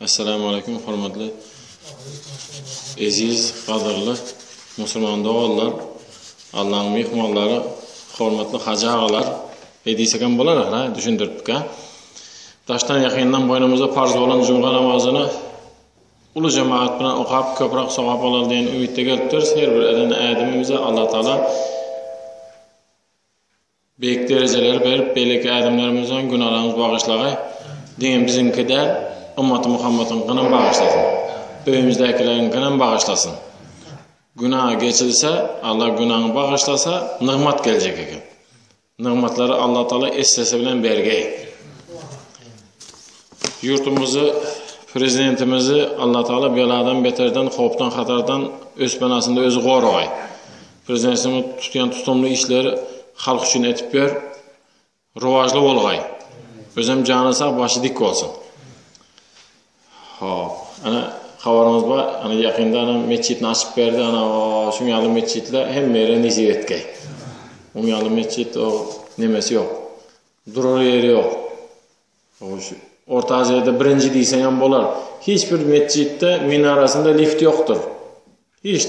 Assalamu aleykum hormatly eziz gadyrly musulman doganlar Allaň myhmanlary hormatly hajy agalar edisegem bolar ha düşündiripdik ha Daşdan ýakyndan boýnumyza parz bolan jumga namazyny uly jemaat bilen okap köprak sogap alar diýen ümitde gelipdiris her bir eden ädimimize Allah taala Beýik derejeleri berip beýleki ädimlerimizem günalaryňyz bagyşlagaý diňe biziňki däl ymmaty Muhammadyňkyňam bagyşlasyn öýümizdäkileriňkinem bagyşlasyn güna geçilse Alla günaňy bagyşlasa nygmat geljek eken nygmatlary Alla taala essesi bilen bergeý ýurtumyzy prezidentimizi Alla taala beladan beterden howpdan hatardan öz penasynda özi goragaý Prezidentimiziň tutýan tutumly işleri halk üçin etip ýör. Rowajly bolgaý. Özem jany sag, başy dik bolsun. Hop. Ana habarymyz bar. Ana ýakynda ana metjitini açyp berdi. Ana şuň ýaly metjitler hemmelere nesip etgeý. Oň ýaly metjit o nemesi ýok. Durar ýeri ýok. Oňşu Orta Aziýada birinji diýseň hem bolar. Hiç bir metjitde minarasynda lift ýokdur. Hiç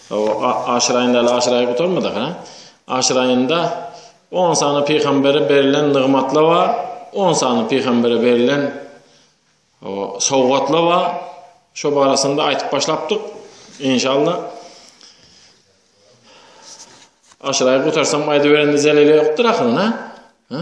Hawa, aşyraýyn däl, aşyraýy gutarmadyk, hä? Aşyraýynda on sany pygambere berilen nygmatlar bar, on sany pygambere berilen hawa, sowgatlar bar. Şo barasynda aýtyp başlapdyk. Inşallah. Aşyraýy gutarsam aýdyberende zeleli ýokdur ahyryna, hä?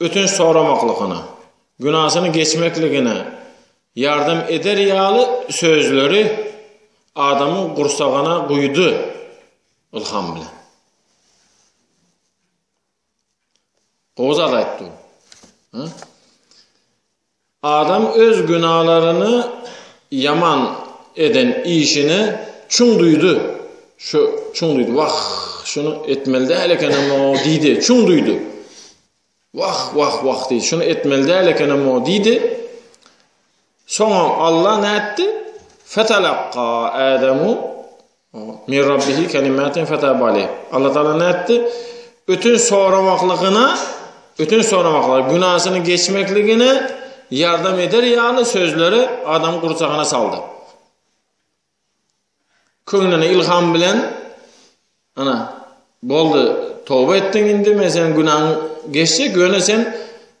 ötünç soramaklygyna, günasyny geçmekligine ýardam eder ýaly sözleri adamyň gursagyna guýdy ylham bilen. Gowy zat aýtdy bu. Adam öz günalaryny ýaman eden işini çuň duýdy. Şu çuň duýdy. Wah, şuny etmeli däl ekenem-o diýdi. Çuň duýdy. Wah, wah, wah diýdi. Şuny etmeli däl ekenem-o diýdi. Soňam Allah nätdi? Fetalakka Adamu Min Rabbihi kelimatin fetaba aleyh. Allah Taala nätdi? Ötün soramaklygyna, ötün soramaklygyna, günäsini geçmekligine ýardam eder ýaly sözleri adam gursagyna saldy. Köňlüne ilham bilen ana boldy, toba etdiň indi, men sen günäň geçse, göne sen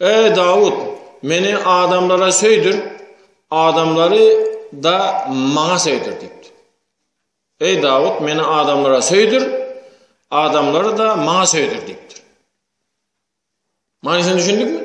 Eý, Dawut! Meni adamlara söýdür, adamlary-da Maňa söýdür diýipdir. Eý, Dawut! Meni adamlara söýdür, adamlary-da Maňa söýdür diýipdir. Manysyny düşündikmi?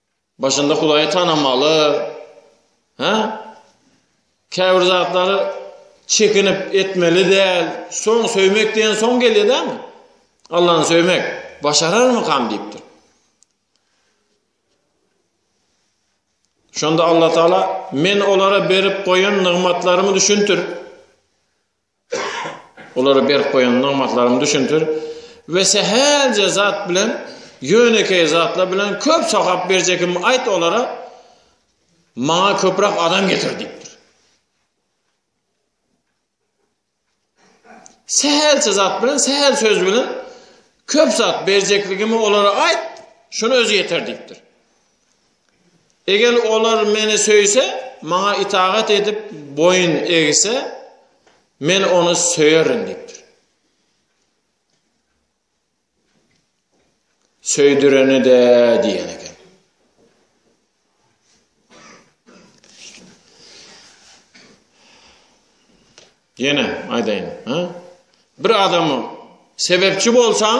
Başynda Hudaýy tanamaly. Hä? Käbir zatlary çekinip etmeli däl. Soň söýmek diýen soň gelýär dämi? Allah'ını söymek başarar mı kam deyiptir. Şonda Allah Taala men olara berip koyan nygmatlarymı düşündir. Olary berk goýan nygmatlarym düşündir we sähelje zat bilen, ýönekeý zatlar bilen köp sogap berjekimi aýt olara, maňa köpräk adam getir diýipdir. Sähelçe zat bilen, sähel söz bilen köp zat berjekligimi olara aýt, şuny özi ýeter diýipdir. Eger olar Meni söýse, Maňa itagat edip, boýun egse, Men ony söýerin diýipdir. Söýdüreni-de diýen eken. Ýene aýdaýyn, ha? Bir adamy sebepçi bolsaň,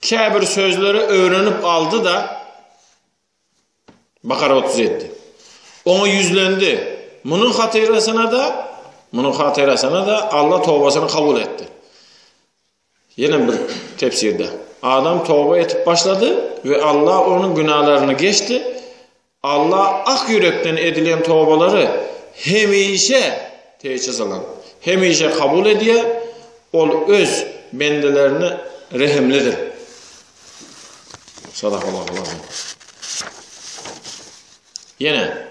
Käbir sözleri öwrenip aldy-da, Bakara 37. Oňa ýüzlendi. Munuň hatyrasyna-da, munuň hatyrasyna-da Allah tobasyny kabul etdi. Ýene bir tefsirde. Adam toba etip başlady we Allah onuň günalaryny geçdi. Alla ak ýürekden edilen tobalary hemişe, tä çyzylan, hemişe kabul edýär, Ol Öz bendelerine rehimlidir. Sadakallahu l-azim. Ýene.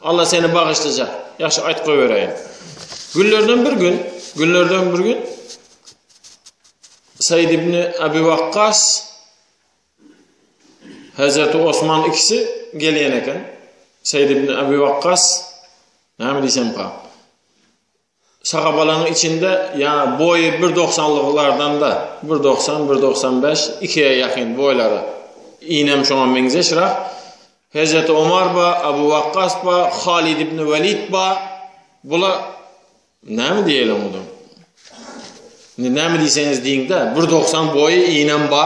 Alla seni bagyşlajak. Ýagşy aýt goý bereýin. Günlerden bir gün, günlerden bir gün Said ibn Abi Waqqas Hazrat Osman ikisi gelýän eken. Said ibn Abi Waqqas näme diýsem pa? Şagabalaň içinde ýaňy boýy bir dogsanlyklardanda, bir dogsan, bir dogsan bäş, ikiýe ýakyn boýlary. Iýnem şoňa meňzeş rak. Hezreti Omar ba, Abu Wakkas ba, Halid ibn Walid ba. Bula näme diýeli onda? Indi näme diýseňiz diýiňde, bir dogsan boýy iýnem ba.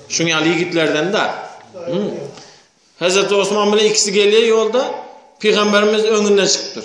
Şuň ýaly ýigitlerden da. Hezreti Osman bilen ikisi gelýär ýolda, Pygamberimiz öňünde çykypdyr.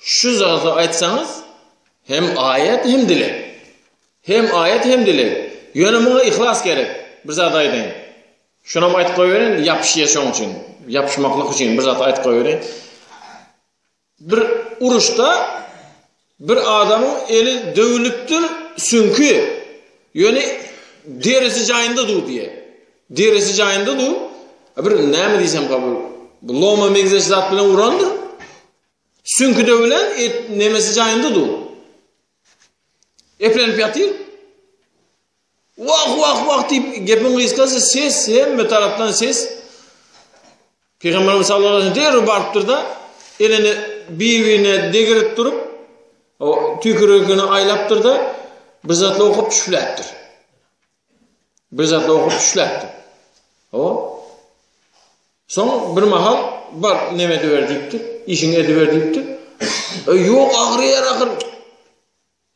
Şu zady aýtsaňyz, hem aýat hem dileg. Hem aýat hem dileg. Ýöne muňa yhlas gerek. Bir zat aýdaýyn. Şunam aýtyp goýberin, ýapyşýa şoň üçin. Ýapyşmaklyk üçin bir zat aýtyp goýberin. Bir uruşda bir adamyň eli döwülipdir, süňki, ýöne derisi jaýynda dur diýýär. Derisi jaýynda dur. Bir näme diýsem kabul. Bu loma meňzeş zat bilen urandyr. Süňki de bilen et nemesi jaýynda dur. Eplenip ýatyr. Wah wah wah diýip gepiň gysgasy ses hemme tarapdan ses. Pygamberimiz sallallahu aleyhi ve sellem derrew barypdyr da elini biwine degirip durup o tükürükini aýlapdyr da bir zatla okup düşüpläpdir. Bir zat dogrup düşläpdi. O. Soň bir mahal bar neme ediber diýipdi, işiňi ediber diýipdi. E, ýok, agyrýar ahyr.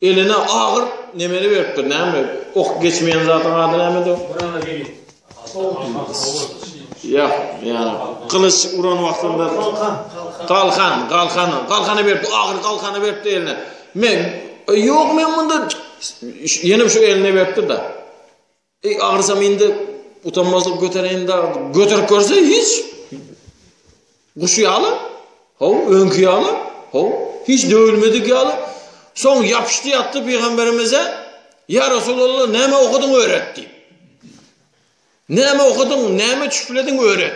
Eline agyr nemeli beripdir, näme? Ok geçmeýän zadyň ady nämedi? Ýa, ýa, gylyç uran wagtynda galkan, galkan, galkany berip, agyr galkany beripdi eline. Men, Eý, ýok, men munda ýenem şu elini beripdir-de. Eý, agyrsam indi utanmazlyk götereýin-de, göterip görse hiç. Guşy ýaly, ho, öňki ýaly, ho, hiç döwülmedik ýaly. Soň ýapyşdy ýatdy pygamberimize, Ýa Resulallah, näme okadyň öwret diýip. Näme okadyň, näme çüplediň öwret.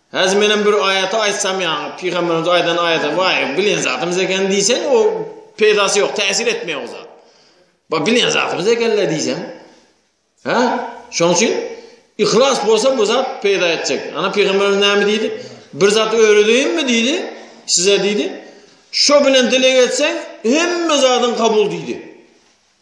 Häzir menem bir aýaty aýtsam ýaňy pygamberimiziň aýdan aýaty waý bilen zatymyz eken diýseň o peýdasy ýok täsir etmeýär o zat. Ba bilen zatymyz ekenle diýseň. Hä? Şonuň üçin ihlas bolsa bu zat peýda etjek. Ana pygamberimiz näme diýdi? Bir zat öwredeýinmi diýdi? Size diýdi. Şo bilen dileg etseň hemme zadyň kabul diýdi.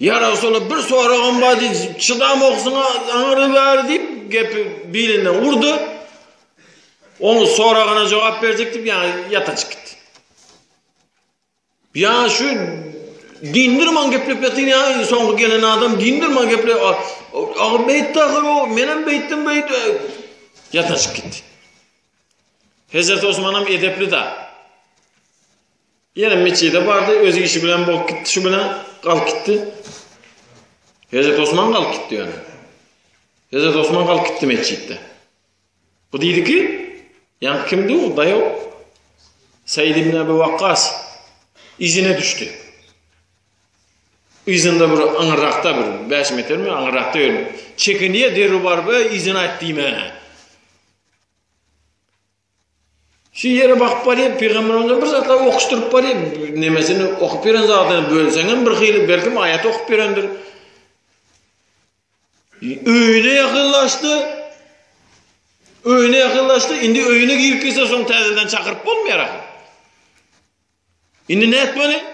Ýa Resulallah bir soragym bar diýip, çydam okusyň aňry bäri diýip gepi bilinden urdy. Onuň soragyna jogap berjek diýip ýa ýata çykyp gitdi. Ýa şu dindirman geplep ýatyn ýa soňky gelen adam dindirman geplep agy beýtdi ahyr o menem beýtdim beýtdi ýata çykyp gitdi. Hezret Osmanam edepli da. Ýene metjide bardy, öz işi bilen bolup gitdi, şu bilen galyp gitdi. Hezret Osman galyp gitdi ýöne. Hezret Osman galyp gitdi metjitde. Bu diýdi ki, ýa kimdi o daýaw? Saýid ibn Abu Waqqas izine düşdi. Izinde bir aňyrrakda bir 5 metrmi aňyrrakda ýördi. Çekiniýe derri bar we izine aýt diýme. Şu ýere bakyp barýan pygamberimize bir zatlar okyşdyryp barýan, nemesini okyp beren zadyny bölseňem bir hyly belki aýat okyp berendir. Öýüne ýakynlaşdy. Öýüne ýakynlaşdy. Indi öýüne girip gitse soň täzeden çakyryp bolmaýar. Indi nätmeli?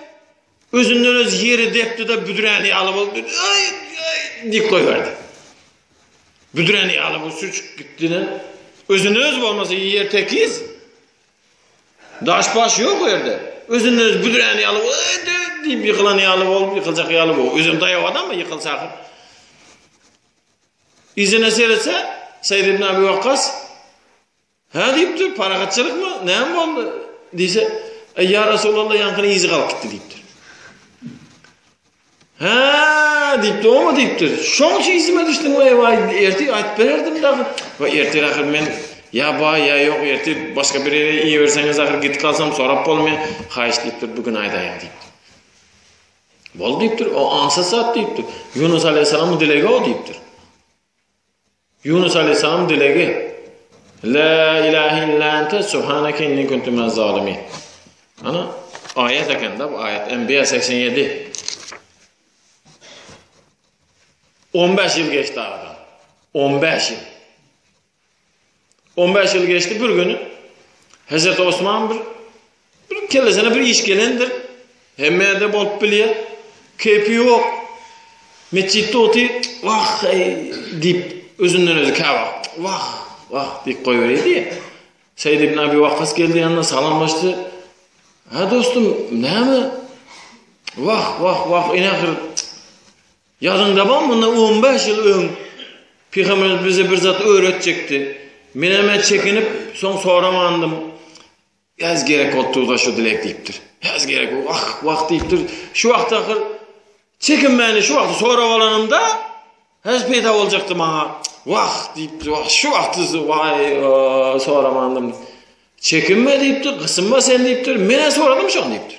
Özünden öz ýeri depdi-de büdräni ýaly boldy. Aý, aý, diýip goýberdi. Büdräni ýaly bu süçüp gitdi-de. Özünden öz bolmasa ýer tekiz. Daş-baş ýok o ýerde. Özünden öz büdräni ýaly boldy diýip ýykylan ýaly bolup, ýykyljak ýaly bu. Özem daýaw adam mı ýykylsa ahyr. Yzyna seretse, Seýid ibn Abi Wakkas Hä diýipdir, parahatçylykmy, näme boldy? diýse, Eý ýa Resulallah ýaňkyny yzy galyp gitdi diýipdir. Hä diýipdir, oňa diýipdir. Şoň üçin yzyma düşdüm we waý ertir aýdyp bererdim dagy. We ertir ahyr men ýa baý ýa ýok ertir başga bir ýere iýerseňiz ahyr gitip galsam sorap bolmaýar. Haýyş diýipdir, bu gün aýdaýyň diýipdir. Bol diýipdir, o ansa sat diýipdir. Ýunus aleyhissalam dilegi o diýipdir. Ýunus aleýhissalam dilegi, La ilahe illa ente subhaneke inni kuntu minez zalimin. Ana aýat ekende bu aýat Enbiýa 87. 15 ýyl geçdi aradan. 15 ýyl. 15 ýyl geçdi bir gün Hazrat Osman bir Bir kellesine bir iş gelendir. Hemmede bolup bilýär. Keýpi ýok. Metjitde otyr. Wah, eý diýip, özünden özi käwagt. Wah, wah diýip goýberýärdi. Seýd ibn Abi Wakkas geldi ýanyna, salamlaşdy. Ha dostum, näme? Wah, wah, wah, ene ahyr. Ýadyňda bar, munda 15 ýyl öň Pygamberimiz bize bir zat öwretjekdi. Men hem çekinip, soň soramandym. Bäs gerek bolupdyr-da şu dilek diýipdir. Bäs gerek bolup, ah, wah diýipdir. Şu wagt ahyr çekinmäni şu wagty sorap alanymda, häzir peýda boljakdy maňa. Wah diýipdir, wah, şu wagty waý, soramandym. Çekinme diýipdir, gysynma sen diýipdir. Men-ä soradym şony diýipdir.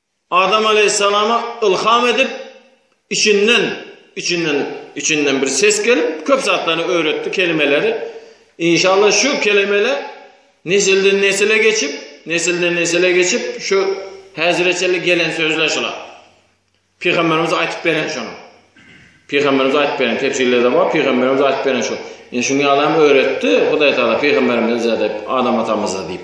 Adam aleýhissalama ylham edip, içinden, içinden, içinden bir ses gelip, köp zatlaryny öwretdi, kelimeleri. Inşallah şu kelimeler nesilden nesile geçip, nesilden nesile geçip, şu häzire çenli gelen sözler şular. Pygamberimiz aýtyp beren şonu. Pygamberimiz aýtyp beren tefsirlerde bar, pygamberimiz aýtyp beren şu. Indi şuny adam öwretdi, Hudaý Taala pygamberimize diýip, Adam atamyza diýip.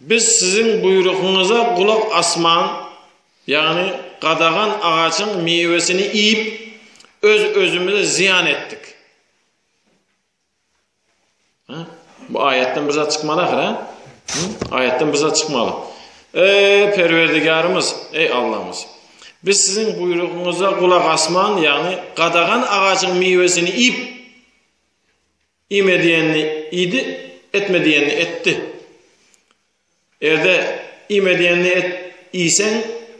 Biz siziň buýrugyňyza gulak asman, ýagny gadagan agajyň miwesini iýip, öz-özümize zyýan etdik. Bu aýatdan bir zat çykmaly ahyr, hä? Aýatdan bir zat çykmaly. Ey Perwerdigarymyz, ey Allahymyz. Biz siziň buýrugyňyza gulak asman, ýagny gadagan agajyň miwesini iýip, Iýme diýenini iýdi, etme diýenini etdi. Erde iýme diýenini et, iýseň,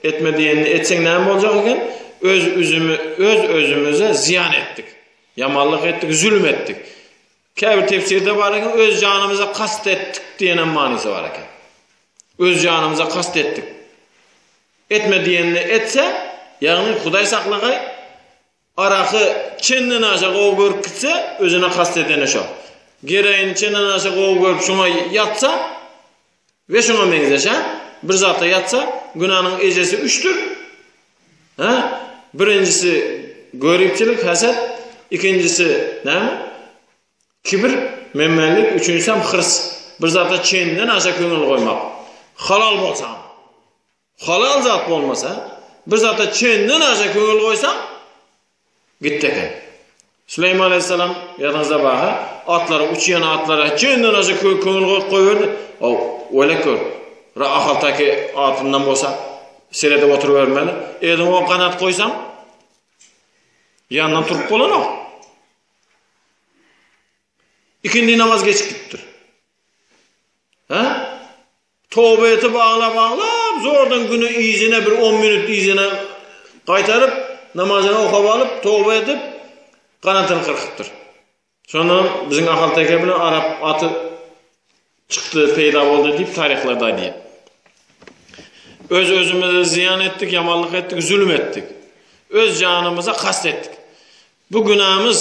etme diýenini etseň näme boljak eken? Öz üzümi, öz özümize zyýan etdik. Ýamanlyk etdik, zulm etdik. Käbir tefsirde bar eken, öz janymyza kast etdik diýen manysy bar eken. Öz janymyza kast etdik. Etme diýenini etse, ýagny Hudaý saklagay, Araky çenden aşa gowy görüp gitse, özüne kast edeni şo. Geroini çenden aşa gowy görüp şoňa ýatsa we şoňa meňzeş, ha? Bir zata ýatsa, günäniň ejesi üçdür. Ha? Birinjisi göripçilik, haset, ikinjisi näme? Kibir, menmenlik, üçünjisi hem hyrs. Bir zata çenden aşa köňül goýmak. Halal bolsa. Halal zat bolmasa, bir zata çenden aşa köňül goýsaň, gitdi eken. Süleýman alaýhyssalam, ýadyňyzda bar-ha, atlary, uçýan atlara çenden aşa köňül goýup goýberdi. Haw, welek gör, bir ahalteke atyndan bolsa, seredip oturybermeli. Eliňe on ganat goýsaň, ýanyndan turup bolanok. Ikindi namaz geçip gitipdir. Ha? Toba etip aglap aglap zordan güne yzyna bir on minut yzyna gaýtaryp namazyny okap alyp toba edip ganatyny kyrkypdyr. Şonda biziň Ahal teke bilen arap aty çykdy peýda boldy diýip taryhlarda aýdýar. Öz özümize zyýan etdik, ýamanlyk etdik, zulum etdik. Öz janymyza kast etdik. Bu günämiz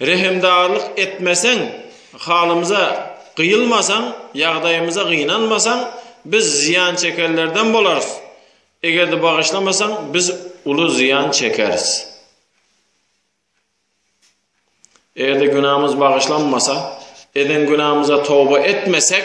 Rehimdarlyk etmeseň, halymyza gyýylmasaň, ýagdaýymyza gynanmasaň, biz zyýan çekenlerden bolarys. Eger-de bagyşlamasaň, biz uly zyýan çekeris. Eger-de günämiz bagyşlanmasa, eden günämize toba etmesek,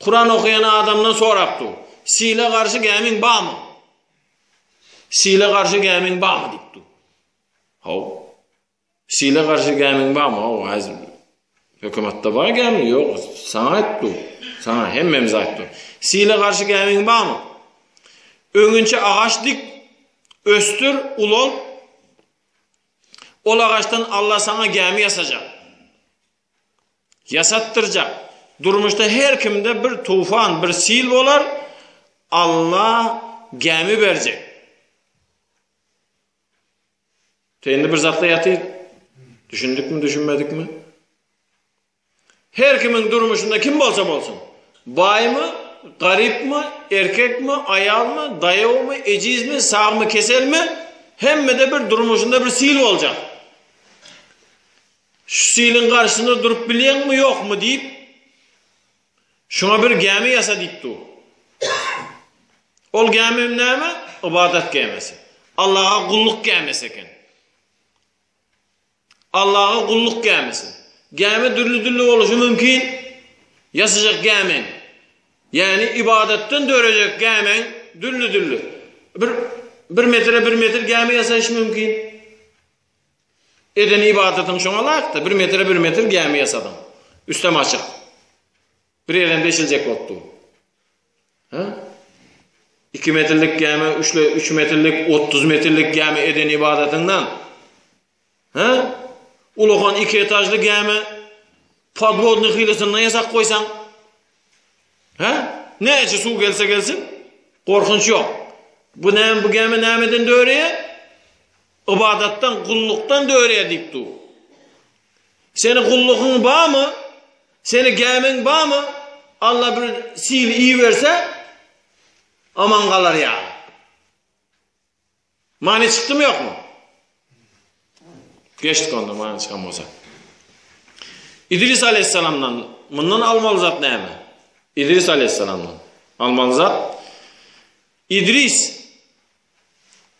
Kuran okaýan adamdan sorap dur. Sile garşy gämiň barmy? Sile garşy gämiň barmy diýip dur. Haw. Sile garşy gämiň barmy? Haw, azim. Hökümetde bar gämi, ýok. Saňa aýtdy. Saňa hemmemiz aýtdy. Sile garşy gämiň barmy? Öňünçe agaç dik, östür, ulan. Ol agaçdan Allah saňa gämi ýasajak. Ýasatdyrjak. Durmuşda her kimde bir tufan, bir sil bolar, Alla gämi berjek. Teýindi bir zatla ýaty. Düşündikmi, düşünmedikmi? Her kimiň durmuşynda kim bolsa bolsun. Baýmy, garypmy, erkekmi, aýalmy, daýawmy, ejizmi, sagmy, keselmi, hemmede bir durmuşynda bir sil boljak. Şu siliň garşysynda durup bilýäňmi, ýokmy? diýip, şuňa bir gämi ýasa diýip dur. Ol gämi hem näme? Ybadat gämisi. Allaha gulluk gämisi eken. Allaha gulluk gämisi. Gämi dürli-dürli boluşy mümkin. Ýasajak gämi. Ýani ibadatdan dörejek gämi dürli-dürli. Bir bir metre bir metr gämi ýasaýyş mümkin. Eden ybadatyň şoňa laýykdy. Bir metre bir metr gämi ýasadyň. Üstem açyk. Bir ýerem-de eşiljek bolup dur. Ha? Iki metrlik gämi, üçle, üç metrlik, otuz metrlik gämi eden ybadatyňdan. Ha? Ulakan iki etajly gämi podvodny hilisinden ýasak goýsaň. Ha? Näçe suw gelse gelsin, gorkunç ýok. Bu näme bu gämi nämeden döreýär? Ybadatdan, gullukdan dörýär diýip dur. Seni gullugyň barmy? Seni gämiň barmy? Alla bir sil iberse aman galar ýa. Many çykdymy ýokmy? Geçdik onda many çykan bolsa. İdris aleyhisselamdan mundan almaly zat näme? İdris aleyhisselamdan almaly zat İdris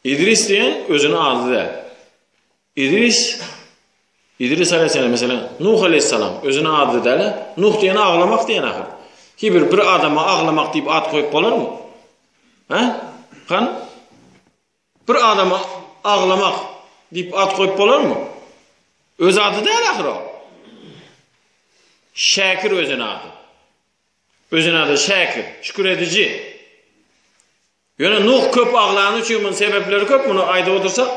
Idris diýen özüne ady däl. Idris Idris aleyhisselam mesela Nuh aleyhisselam özüne ady däl. Nuh diýen aglamak diýen ahyr. Ki bir bir adama aglamak diýip at goýup bolarmy? Ha? Kan? Bir adama aglamak diýip at goýup bolarmy? Öz ady däl ahyr o. Şäkir özüne ady. Özüne ady Şäkir, şükür ediji. Ýöne Nuh köp aglany üçin muny sebepleri köp muny aýdyp otursak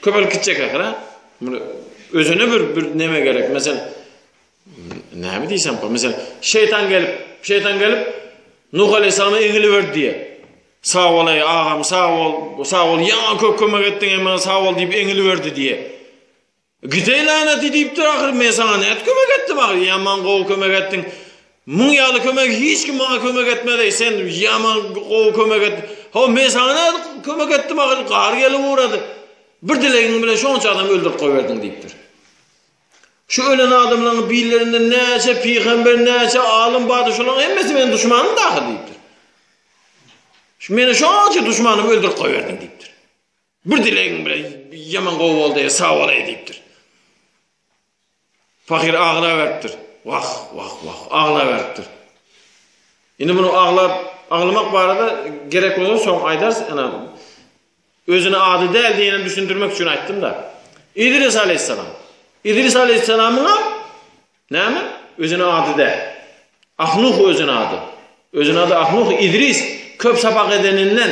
köpelip gitjek ahira. Muny özüne bir bir neme gerek. Meselem näme diýsem bu? Meselem şeýtan gelip, şeýtan gelip Nuh aleyhissalama egili berdi diýe. Sag bol ey agam, sag bol, sag bol. Ýa köp kömek etdiň, emma sag bol diýip egili berdi diýe. Gide laneti diýipdir ahyry men saňa nädip kömek etdim ahyry ýaman gowy kömek etdiň muň ýaly kömegi hiç kim maňa kömek etmedeý sen ýaman gowy kömek et hawa men saňa nädip kömek etdim ahyry gar gelip ugrady bir dilegiň bilen şonça adam öldürip goýberdiň diýipdir şu ölen adamlaryň birlerinde näçe pygamber näçe alym bardy şolaryň hemmesi meniň duşmanym dahy diýipdir şu meni şonça duşmanym öldürip goýberdiň diýipdir Bir dilegiň bilen ýaman gowy boldy, sag bolaý diýipdir. Pahyr aglaberipdir. Wah, wah, wah, aglaberipdir. Indi muny aglap, aglamak barada gerek bolsa soň aýdarys, ana özüne ady däl diýenem düşündirmek üçin aýtdym-da. Idris alayhissalam. Idris alayhissalamyň hem näme? Özüne ady däl. Ahnuh özüne ady. Özüne ady Ahnuh Idris köp sapak edeninden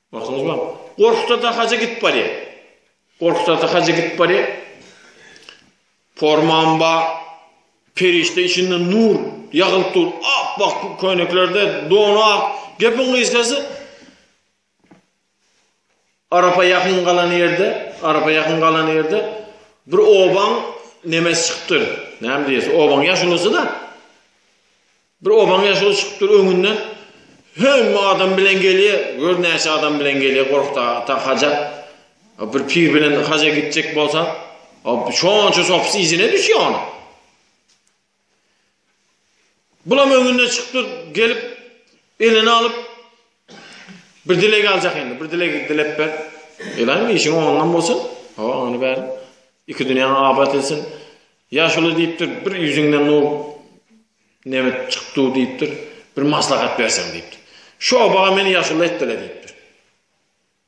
Bakalgam. Gorkutda-da haja gidip barýa. Gorkutda-da haja gidip barýa. Formam ba, perişde içinde nur ýagylyp dur. Apbak köýneklerde donu ak. Gepiň gysgasy Arapa ýakyn galan ýerde, Arapa ýakyn galan ýerde bir obaň nemesi çykypdyr. Näme diýýäs, obaň ýaşulusy-da. Bir obaň ýaşuly çykyp dur öňünden. Hemme adam bilen gelýä. Gör näçe adam bilen gelýä gorkdy ata haja. Bir pir bilen haja gitjek bolsa, şonça sopus yzyna düşýä onuň. Bulam öňünden çykyp dur, gelip elini alyp bir dileg aljak indi. Bir dileg dilep ber. Elan işiň oňundan bolsun. Ha, ony ber. Iki dünýäň abat etsin. Ýaşuly diýipdir, bir ýüzüňden nur Nebit çykdu diýipdir. Bir maslahat berseň diýipdir. Şu obaga meni ýaşuly etdile diýipdir.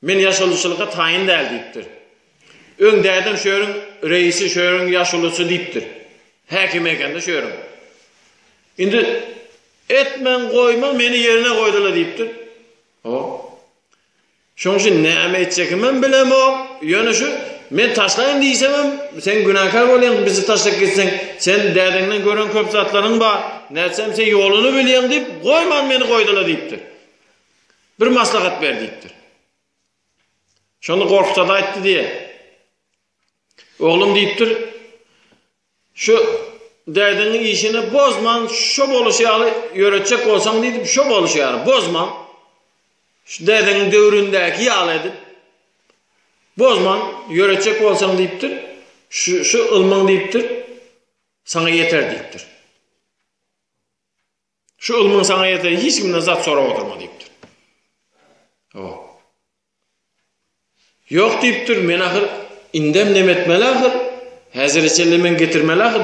Men ýaşulyçylyga taýyn däl diýipdir. Öň dädem şu ýeriň reisi, şu ýeriň ýaşulusy diýipdir. Häkim ekende şu ýeriň. Indi etmen goýman meni ýerine goýdile diýipdir. Ho. Şoň üçin näme etjekimem bilemok, ýöne şu men taşlaýyn diýsemem, sen günäkär bolýaň, bizi taşlap gitseň, sen dädeňden gören köp zatlaryň bar, nätseem sen ýoluny bilýäň diýip, goýman meni goýdula diýipdir. Bir maslahat ber diýipdir. Şonda Gorkut ata aýtdy diýýär. Oglum diýipdir, Şu dädeňi işini bozman şo boluşy ýaly ýöretjek bolsaň diýdip şo boluşy ýaly bozman şu dädeňiň döwründäki ýaly edip bozman ýöretjek bolsaň diýipdir şu şu ylmyň diýipdir saňa ýeter diýipdir. Şu ylmyň saňa ýerden hiç kimden zat sorap oturma diýipdir. O. Ýok diýipdir, men ahyr indem nem etmeli ahyr? Häzire çenli men getirmeli ahyr,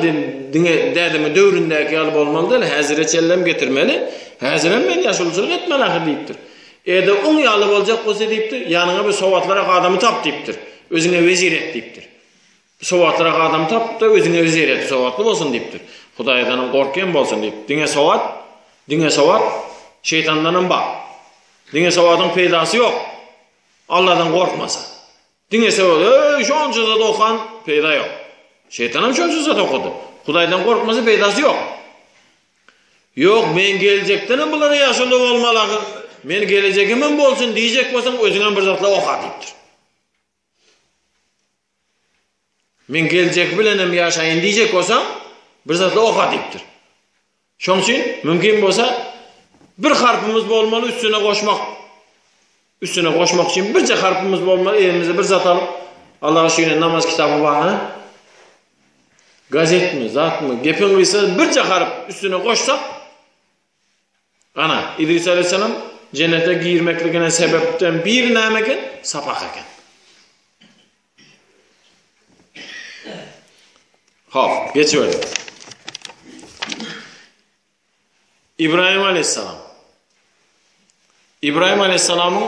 diňe dädeme döwründäki ýaly bolmaly däl, häzire çenlem getirmeli, häzirem men ýaşuluçylyk etmeli ahyr diýipdir. Ede oň ýaly boljak bolsa diýipdir, ýanyňa bir sowatlyrak adamy tap diýipdir, özüňe wezir et diýipdir. Sowatlyrak adamy tapyp-da, özüňe öz ýer et, sowatly bolsun diýipdir. Hudaýdanam gork hem bolsun diýip, diňe sowat, diňe sowat, şeýtandanam bak. Diňe sowadyň peýdasy ýok, Alladan gorkmasa. Diňe sowat, eý, şonça zat okan, peýda ýok. Şeýtanam şonça zat okady. Hudaýdan gorkmasa peýdasy ýok. Ýok, men geljekdenem bulara ýaşuly bolmaly ahyr, men gelejegimem bolsun diýjek bolsaň, özüňem bir zatlar oka diýipdir. Men geljek bilenem ýaşaýyn diýjek bolsaň, bir zatla oka diýipdir. Şoň üçin mümkin bolsa bir harpymyz bolmaly üstüne goşmak. Üstüne goşmak üçin birje harpymyz bolmaly, elimize bir zat alyp, Allaha şüýne namaz kitaby barmy? Gazetmi, zatmy? Gepiň gysgasy birje harp üstüne goşsak, Ana, Idris aleýhissalam jennete girmekligine sebäpden biri näme eken? Sapak eken. Hop, geçiberdik. Ibrahim aleýhissalam. Ibrahim aleýhissalamyň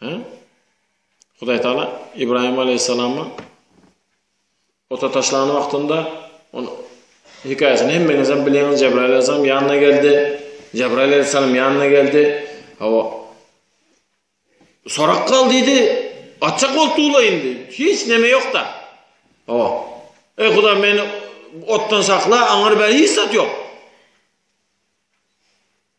He? Hudaý Taala Ibrahim aleýhissalamy ota taşlan wagtynda on hikaýasyny hemmeňizem bilýäňiz. Jebraýyl aleýhissalam ýanyna geldi. Jebraýyl aleýhissalam ýanyna geldi. Hawa. Sorak gal diýdi. Atjak bolup dula indi. Hiç neme ýok-da. Hawa. Ey Hudaý meni otdan sakla, aňyr bäri hiç zat ýok.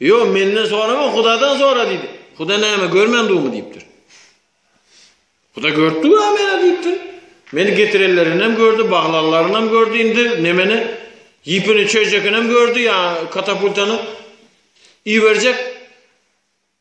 Ýok, menden sorama, Hudadan sora diýdi. Huda näme, görmändigimi diýipdir. Huda görüpdi we meni diýipdir. Meni getirenlerini hem gördi, baglanlaryny hem gördi, indi nemeni, ýipini çözjekini hem gördi, ýa katapultany iberjek.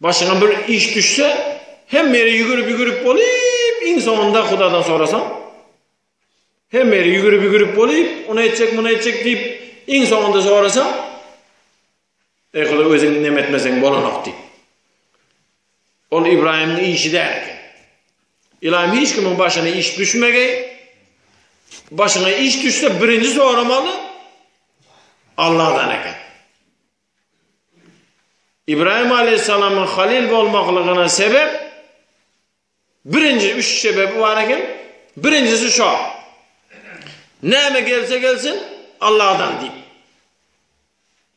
Başyňa bir iş düşse, hemme ýere ýügürip-ýügürip bolup, iň soňunda Hudadan sorasaň, hemme ýere ýügürip-ýügürip bolup, ony etjek, muny etjek diýip, iň soňunda sorasaň, Eý Huda, özüň neme etmeseň bolanok diýip. Ol Ibrahimyň işi däl eken. Ilam hiç kimiň başyna iş düşmegi, başyna iş düşse birinji soramaly Allahdan eken. Ibrahim aleýhissalamyň halyl bolmaklygyna sebep birinji üç sebebi bar eken. Birinjisi şu. Näme gelse gelsin Allahdan diýip.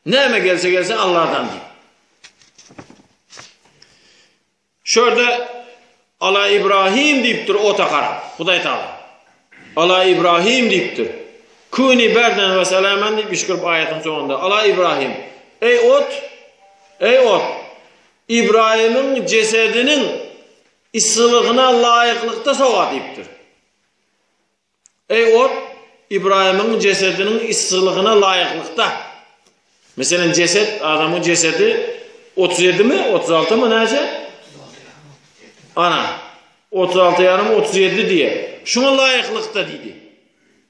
Näme gelse gelsin Allahdan diýip. Şu ýerde Ala Ibrahim diýipdir ota garap. Hudaý Taala. Ala Ibrahim diýipdir. Küni berden we selamen diýip ýşkyryp aýatyň soňunda. Ala Ibrahim. Eý ot! Eý ot! Ibrahimiň jesediniň yssylygyna laýyklykda sowa diýipdir. Eý ot, Ybraýymyň jesediniň yssylygna laýyklykda, meselen, jeset, adamyň jesedi otuz ýedimi, otuz altymy, näçe? Ana, otuz alty ýarym, otuz ýedi diýýär. Şuňa laýyklykda diýdi.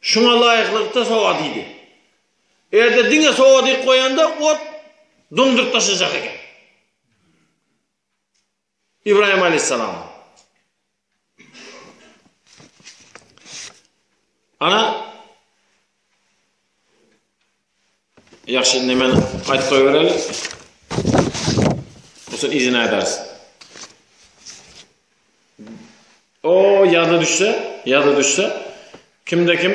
Şuňa laýyklykda sowa diýdi. Eger-de diňe sowa diýip goýanda, ot duňduryp daşajak eken. Ybraýym aleýhissalam. Ana Ýagşy indi men gaýt goý bereli. Osun izin aýdars. O ýada düşse, ýada düşse kimde kim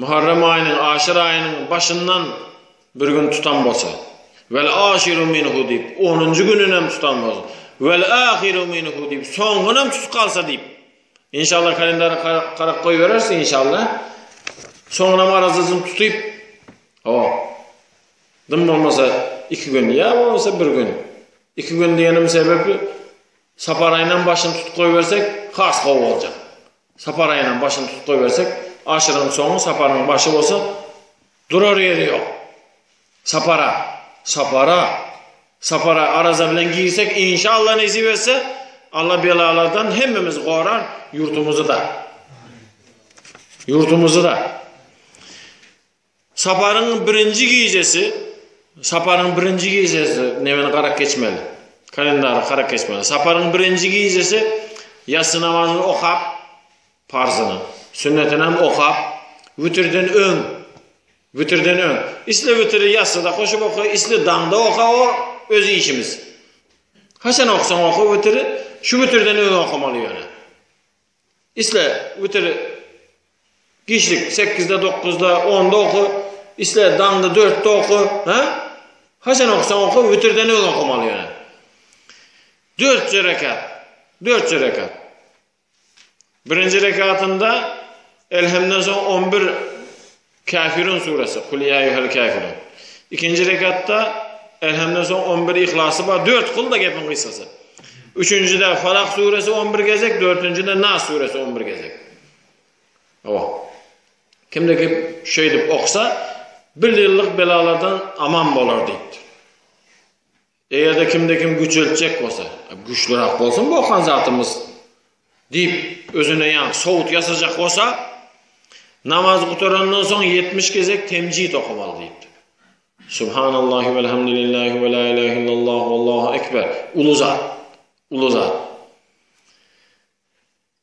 Muharrem aýynyň aşyr aýynyň başyndan bir gün tutan bolsa, Wel aşyru minhu diýip, onunjy gününem tutan bolsa, Wel ahyru minhu diýip, soňgunam tutup galsa diýip, inşallah kalendara karap goýbereris, inşallah. Soňunam arazasyn tutyp, o, dym bolmasa iki gün, ýa bolmasa bir gün. Iki gün diýenim sebäpli, Sapar aýynam başyny tutup goýbersek, has gowy boljak. Sapar aýynyň başyny tutup goýbersek, aşyryň soňy Saparyň başy bolsa, durar ýeri ýok. Sapara, Sapara, Sapara araza bilen girsek, inşa Allah nesip etse, Allah belalardan hemmemizi gorar, ýurdumyzy-da. Ýurdumyzy-da. Saparyň birinji gijesi, saparyň birinji gijesi nemen garak geçmeli. Kalendary garak geçmeli. Saparyň birinji gijesi ýassy namazyny okap, parzyny, sünnetini hem okap, witirden öň, witirden öň. Isle witiri ýassyda goşup oka, isle daňda oka, o öz işimiz. Haçan oksaň oka witiri, şu witirden öň okamaly ýöne. Isle witir giçlik sekizde, dokuzda, onda oka, isle daňda dörtde oka, ha? Haçan oksaň oka, witirden öň okamaly ýöne. Dört rekat. Dört rekat. Birinji rekatynda elhemden soň 11 Käfirun suresi, Kul ýa eýýuhel käfirun. Ikinji rekatda Elhemden soň on bir Yhlasy bar, dört kylda gepiň gysgasy. Üçünjide Falak suresi on bir gezek, dördünjide Nas suresi on bir gezek. Hawa. Kimde kim şeýdip oksa, bir ýyllyk belalardan aman bolar diýipdir. Eger-de kimde kim güjeltjek bolsa, güçlürak bolsun bu okan zatymyz diýip, özüne ýa sowut ýasajak bolsa, namaz gutarandan soň 70 gezek temjid okamaly diýipdi. Subhanallahi ve elhamdülillahi ve la ilahe illallah vallahu ekber. Ulu zat. Ulu zat.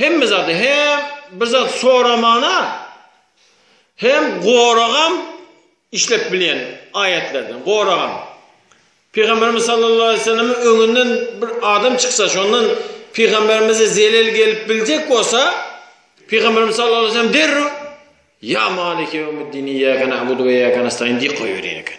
Hemme zady hem bir zat soramana hem goragam işlep bilýän aýetlerden goragam. Pygamberimiz sallallahu aleýhi ve sellemiň öňünden bir adam çyksa şondan pygamberimize zelel gelip biljek bolsa pygamberimiz sallallahu aleýhi ve sellem derrew ýa maliki ýewmiddini ýa kana abudu we ýa kana staýin diýip goýberýän eken.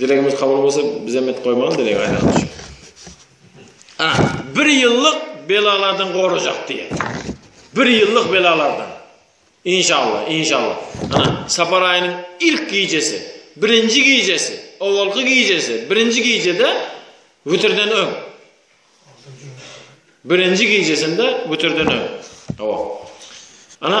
Dilegimiz kabul bolsa biz hem et goýmaly dileg aýdany üçin. A, bir ýyllyk belalardan gorajak diýen. Bir ýyllyk belalardan. Inşallah, inşallah. Ana, sapar aýynyň ilk gijesi, birinji gijesi, owalky gijesi, birinji gijede witirden öň. Birinji gijesinde witirden öň. Owa. Ana,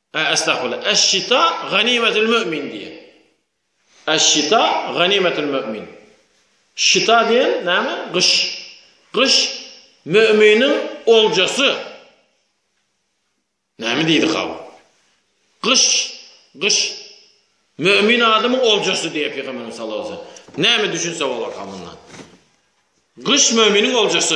Estagfirullah. Eş-şita ganimetul mümin diýen. Eş-şita ganimetul mümin. Şita diýen näme? Gyş. Gyş müminiň oljasy. Näme diýdi hawa? Gyş, gyş mümin adamyň oljasy diýip Peygamberimiz sallallahu aleyhi ve sellem. Näme düşünse bolar hamyndan? Gyş müminiň oljasy.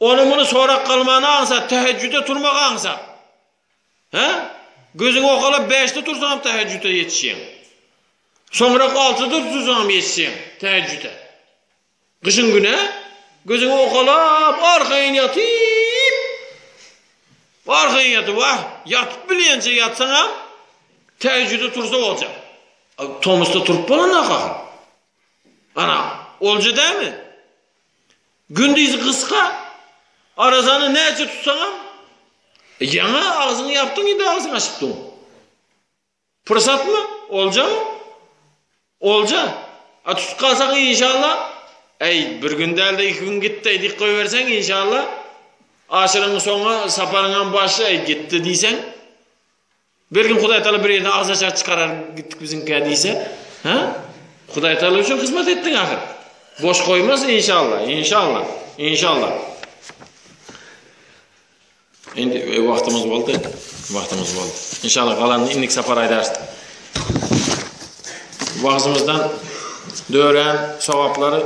Ony-muny sorap galman aňsat, tähejjüde turmak aňsat. Hä? Gözüňi okalap bäşde tursaňam tähejjüde ýetişýäň. Soňrak altyda tursaňam ýetişýäň tähejjüde. Gyşyň güni gözüňi okalap arkaýyn ýatyp, arkaýyn ýatyp, wah, ýatyp bilýänçä ýatsaňam tähejjüde tursa boljak. Tomusda turup bolanok ahyryn. Ana, olja dälmi? Gündizi gysga, arazany näçe tutsaňam, ýaňa agzyňy ýapdyň, indi agzyňy açyp dur. Pursatmy? Oljamy? Olja. A tutup galsaň, inşalla, äý, bir gün däl-de iki gün gitdi diýip goýberseň, inşalla, aşyryň soňy saparyňam başy, äý, gitdi diýseň, Bir gün Hudaýtagala bir ýerden agza çar çykarar gitdik biziňkä diýse, hä? Hudaýtagala üçin hyzmat etdiň ahyr. Boş goýmaz inşalla, inşalla, inşalla. Indi e, wagtymyz boldy. Wagtymyz boldy. İnşallah galanını indik sapar aýdarys. Wagzymyzdan dören sogaplary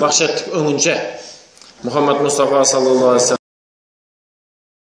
bahşetdik öňünçe. Muhammed Mustafa sallallahu aleyhi ve sellem